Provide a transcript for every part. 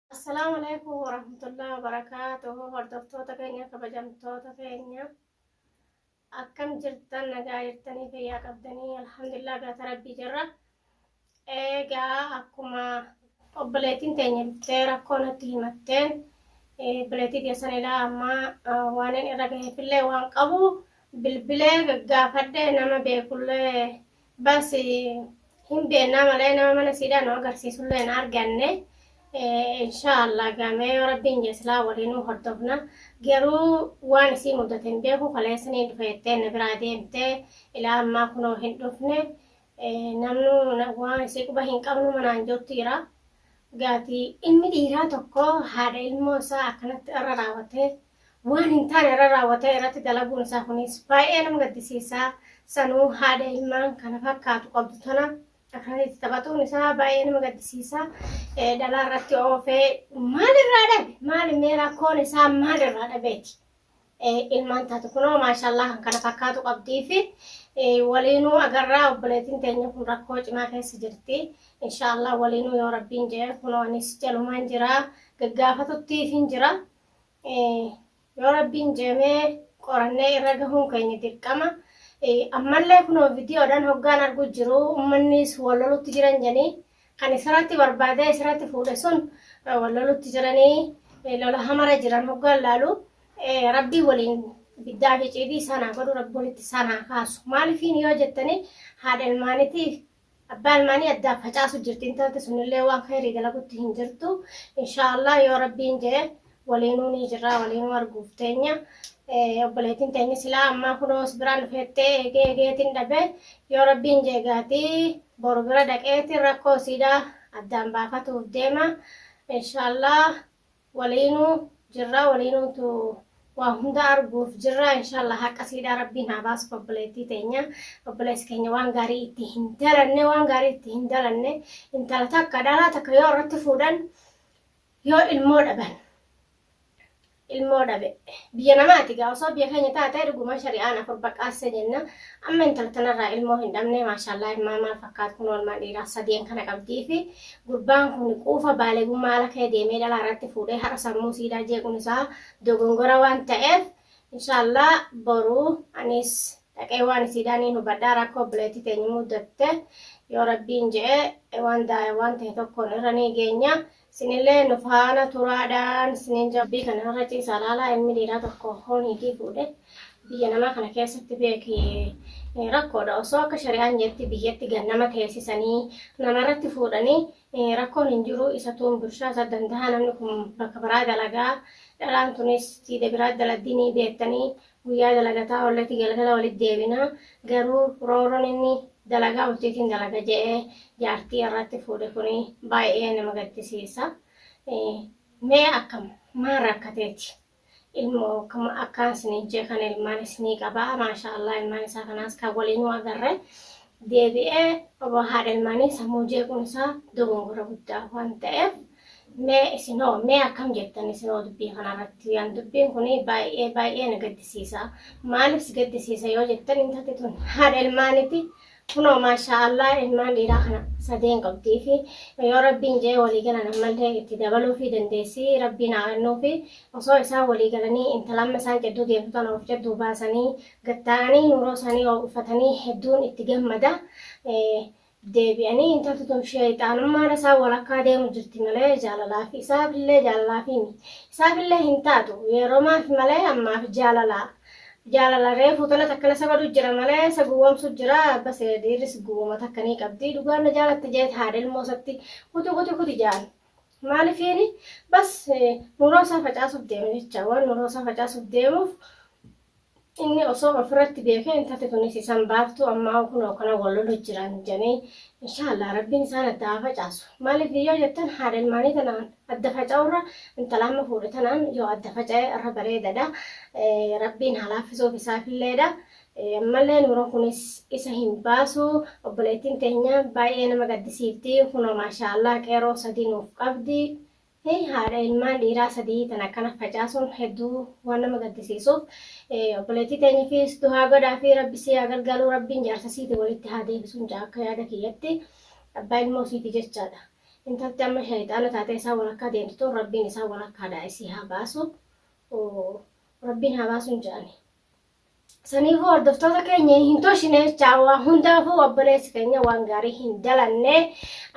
Assalaamu alaikum warahmatullahi wabarakaatuhu hordoftoota keenya kabajamtoota keenya akkam jirtan nagaa jirtanii fayyaa qabdanii alhamdulillah galata rabbii jirra eegaa akkuma obboleettiin teenya bittee rakkoo natti himatteen obboleettii keessan ilaa ammaa waanin irra gaheefillee waan qabu bilbilee gaggaafadhe nama beekullee Bas hin beennaa malee nama mana siidhaa nu agarsiisullee hin arganne. Inshaallah gamee yoo rabbiin jee silaa waliinuu hordofna. Garuu waan isii mudate hin beeku kaleessa ni dhufe jettee na biraa deemtee ilaa ammaa kunoo hin dhufne. Namnu waan isii quba hin qabnu manaan jirtu jira. Gaatii inni dhiiraa tokko haadha ilmoo isaa akkanatti irra raawwatee waan hin taane irra raawwatee irratti dalaguun isaa kunis baay'ee nama gaddisiisaa sanuu haadha ilmaan kana fakkaatu qabdu tana akkanatti taphatuun isaa baay'ee nama gaddisiisaa dhalaa irratti oofee maal irraa dhabe maal mee rakkoon isaa maal irraa dhabeeti ilmaan taatu kunoo maashaallah kan kana fakkaatu qabdii fi waliinuu agarraa obboleetiin teenya kun rakkoo cimaa keessa jirti inshaallah waliinuu yoo rabbiin jee kunoo anis jalumaan jira gaggaafatutti hin jira. Yoo rabbiin jeemee qorannee irra gahuun keenya dirqama. Ammallee kunoo viidiyoodhaan hoggaan arguu jiru ummannis wal lolutti jiran jedhanii kan isirratti barbaadee isirratti fuudhe sun wal lolutti jiranii lola hamara jiran hoggaan laalu rabbii waliin biddaa fi ciidii isaan haa godhu rabbi walitti isaan haa kaasu. Maaliifiin yoo jettanii haadha ilmaanitii Abbaa ilmaanii addaan facaasu jirti intalti sunillee waan khayrii dalagutti hin jirtu inshaallah yoo rabbiin jee waliinuu ni jirraa waliinuu arguuf teenya obboleetiin teenya silaa ammaa kunoo si biraan dhufeettee eegee eegeetiin dhabe yoo rabbiin jee gaatii boru bira dhaqeetiin rakkoo siidhaa addaan baafatuuf deema inshaallah Waliinuu jirraa waliinuutu waa hunda arguuf jirraa inshallah haqqa siidhaa rabbiin haa baasuf obboleettii teenya obboleessi keenya waan gaarii itti hin dalanne waan gaarii itti hin dalanne intala takka dhalaa takka yoo irratti fuudhan yoo ilmoo dhaban ilmoo dhabe biyya namaati gaa osoo biyya keenya taate dhuguma shari'aan afur baqqaasse jenna amma intala tanarraa ilmoo hin dhabne maashaallaa ilmaa maal fakkaatu kun olmaa dhiiraa sadeen kana qabdii fi Gurbaan kun quufa baalegummaa ala ka'e deemee dhalaa irratti fuudhee har'a sammuu siidaa jeequun isaa dogongora waan ta'eef inshaallah boru anis dhaqee waan isiidhaa niin hubadhaa rakkoo obboleettii teenyu muddatte yoo rabbiin je'e waan daaya waan ta'e tokkoon irra nii geenya sinillee nu faana turaadhaan sinin jabbii kana irra ciisaa laalaa ilmi dhiiraa tokko hooniitii fuudhe Biyya namaa kana keessatti beeki rakkoodha. Osoo akka shari'aan jetti biyyatti gad nama teessisanii namarratti fuudhanii rakkoon hin jiru isatuun bulchaa isa danda'a namni kun bakka biraa dalagaa dhalaan tunis siida biraa daladdi ni beettanii guyyaa dalagataa ollati galgala walitti deebina garuu rooroon inni dalagaa bultiitiin dalaga je'ee jaartii irratti fuudhe kun baay'ee nama gaddisiisa. Mee akkam maal rakkateeti? ilmo akkuma akkaan isiniin jee kana ilmaan isinii qabaa maashaa Allah ilmaan isaa kanaas kan waliinuu agarre deebi'ee oboo haadha ilmaanii sammuu jeequun isaa dogongora guddaa waan ta'eef mee isinoo mee akkam jettan isinoo dubbii kanarratti yaan dubbiin kun baay'ee baay'ee na gaddisiisa maaliif si gaddisiisa yoo jettan intalti tun haadha ilmaaniti Kunoo maashaa Allah ilmaan dhiiraa kana sadeen qabdii fi yoo rabbiin jee walii galan ammallee itti dabaluu fi dandeessii rabbiin haa kennuu fi osoo isaan walii galanii intala amma isaan jidduu deemtu tana of jidduu baasanii gattaa'anii nuuroo isaanii oo'ufatanii hedduun itti gammada. Deebi'anii intalti tun sheexaanummaan isaa walakkaa deemu jirti malee jaalalaa fi isaafillee jaalalaa fi isaafillee hin taatu yeroo maaf malee ammaaf jaalalaa. Jaalala reefu tana takka na sabadu jira malee sa gowwomsu jira base dhiirris gowwoma takka ni qabdi dhugaan na jaalatti jeet haadha ilmoo satti kuti kuti kuti jaan maalifiini bas nuroo isaa facaasuuf deema jecha waan nuroo isaa facaasuuf deemuuf inni osoo ofirratti beekee intalti tunis isan baaftu ammaa kunoo kana wal lolu jiran jedhanii inshaallah rabbiin isaan adda haa facaasu maaliif yoo jettan haadha ilmaanii tanaan Adda faca'urra intala amma fuudhe tanaan yoo adda faca'e irra bareedadha. Rabbiin haa laaffisuuf isaafilleedha. Ammallee nuuran kunis isa hin baasu. Obboleettiin teenya baay'ee nama gaddisiifti. Kunoo maashaallah qeeroo sadii nuuf qabdi. Haadha ilmaan dhiiraa sadii tan akkana facaasuun hedduu waan nama gaddisiisuuf. Obboleettii teenyafiis duhaa godhaa fi rabbi si haa gargaaru rabbiin jaarsa siiti walitti haa deebisuun ja'a akka yaada kiyyatti. Abbaa ilmoo siiti jechaadha. Intalti amma shayxaana taatee isaan walakkaa deemtu tun Rabbiin isaan walakkaadhaa isii haa baasu. Rabbiin haa baasuun jedhani. Saniifuu hordoftoota keenya hin toshine jechaa waa hundaafuu obboleessi keenya waan gaarii hin dalanne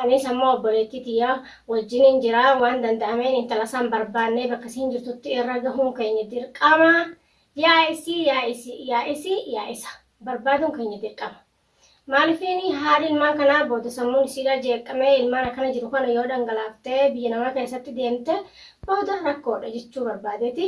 anis ammoo obboleettii tiyya wajjiniin jira waan danda'ameen intala isaan barbaannee bakka isiin jirtutti irra gahuun keenya dirqama yaa isii yaa isii yaa isii yaa isa barbaaduun keenya dirqama. Maalifiin haadhi ilmaan kanaa booda sammuun isiidhaa jeeqqamee ilmaan akkana jiru kana yoo dhangalaaftee biyya namaa keessatti deemte booda rakkoodha jechuu barbaadeeti.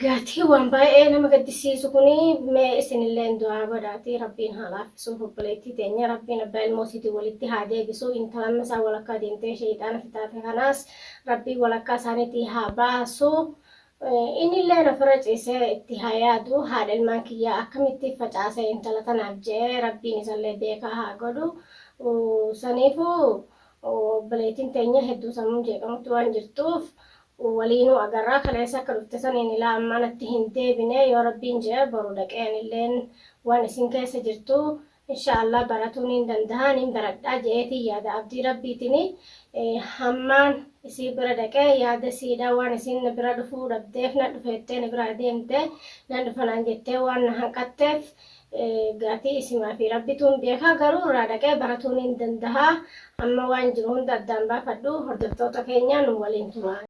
Gatii waan baay'ee nama gaddisiisu kuni mee isinillee du'aa godhaati rabbiin haa laaffisuuf obboleettii teenya rabbiin abbaa ilmoo isiitiin walitti haa deebisu intalamma isaa walakkaa deemtee sheeyxaana fitaate kanaas rabbiin walakkaa isaaniitii haa baasu Innilleen ofirra ciisee itti haa yaadu, haadha ilmaan kiyyaa akkamitti facaase intala tanaaf je'ee Rabbiin isallee beekaa haa godhu. Saniifuu obboleettiin teenya hedduu sammuun jeeqamutti waan jirtuuf waliinuu agarra. Kaleessa akka dhufte saniin ilaa ammaa natti hin deebine. Yoo Rabbiin je'e boru dhaqee anilleen waan isiin keessa jirtu inshaa Allah baratuu niin dandahaa niin baradhaa je'eetiin yaada abdii rabbiitini hammaan isii bira dhaqee yaada siidha waan isiin na bira dhufuu dhabdeef na dhufe jettee na biraa deemte nan dhufa naan jettee waan na hanqatteef gaatii isimaa fi rabbituun beekaa garuu irraa dhaqee baratuu niin dandahaa amma waan jiru hunda addaan baafadhu hordoftoota keenya nu waliin turaa.